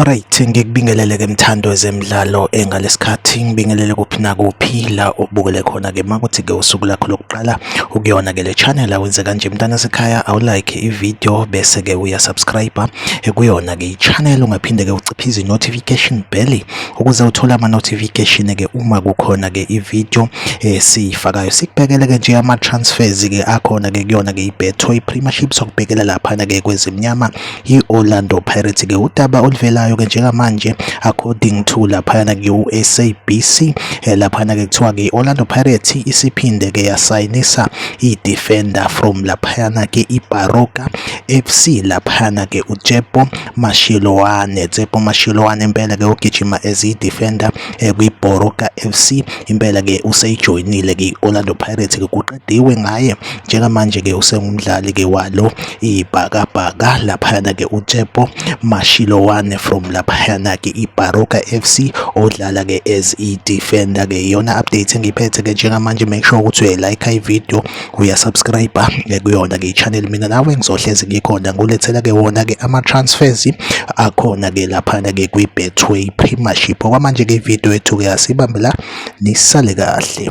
Alright, ngikubingelele ke mthando wezemidlalo engalesikhathi eh, ngibingelele kuphi nakuphi la ubukele khona ke makuthi ke usuku lakho lokuqala ukuyona ke le channel awenze kanje mntana sekhaya awulike ivideo bese ke uya subscribe eh, kuyona ke ichannel ungaphinde ke uciphize notification bell ukuze uthole ama notification ke uma kukhona ke ivideo esiyifakayo eh, sikubhekele ke nje ama transfers ke akhona ke kuyona ke ibetho ipremieship sokubhekela lapha ke kwezimnyama i-Orlando Pirates ke udaba oluvelayo ke njengamanje according to laphayana ku-SABC eh, laphayana ke kuthiwa ke i-Orlando Pirates isiphinde ke yasayinisa i-defender from laphayana ke iBaroka FC laphayana ke uTsepo Mashiloane Tsepo Mashiloane impela ke ugijima as i-defender eh, kwiBaroka FC impela ke useyijoyinile ke i-Orlando Pirates ke kuqediwe ngaye njengamanje-ke usengumdlali-ke walo ibhakabhaka laphayana-ke utshepo mashilowane from laphayana-ke ibaroka f c odlala-ke as i-defender-ke iyona update engiphethe-ke njengamanje make sure ukuthi uyayilike ividiyo uyasubscribe-a kuyona-ke i-channel mina nawe ngizohlezi ngikhona ngulethela-ke wona-ke ama-transfers akhona-ke laphana-ke kwi-betway premiership okwamanje-ke ividiyo yethu-ke asibambe la nisale kahle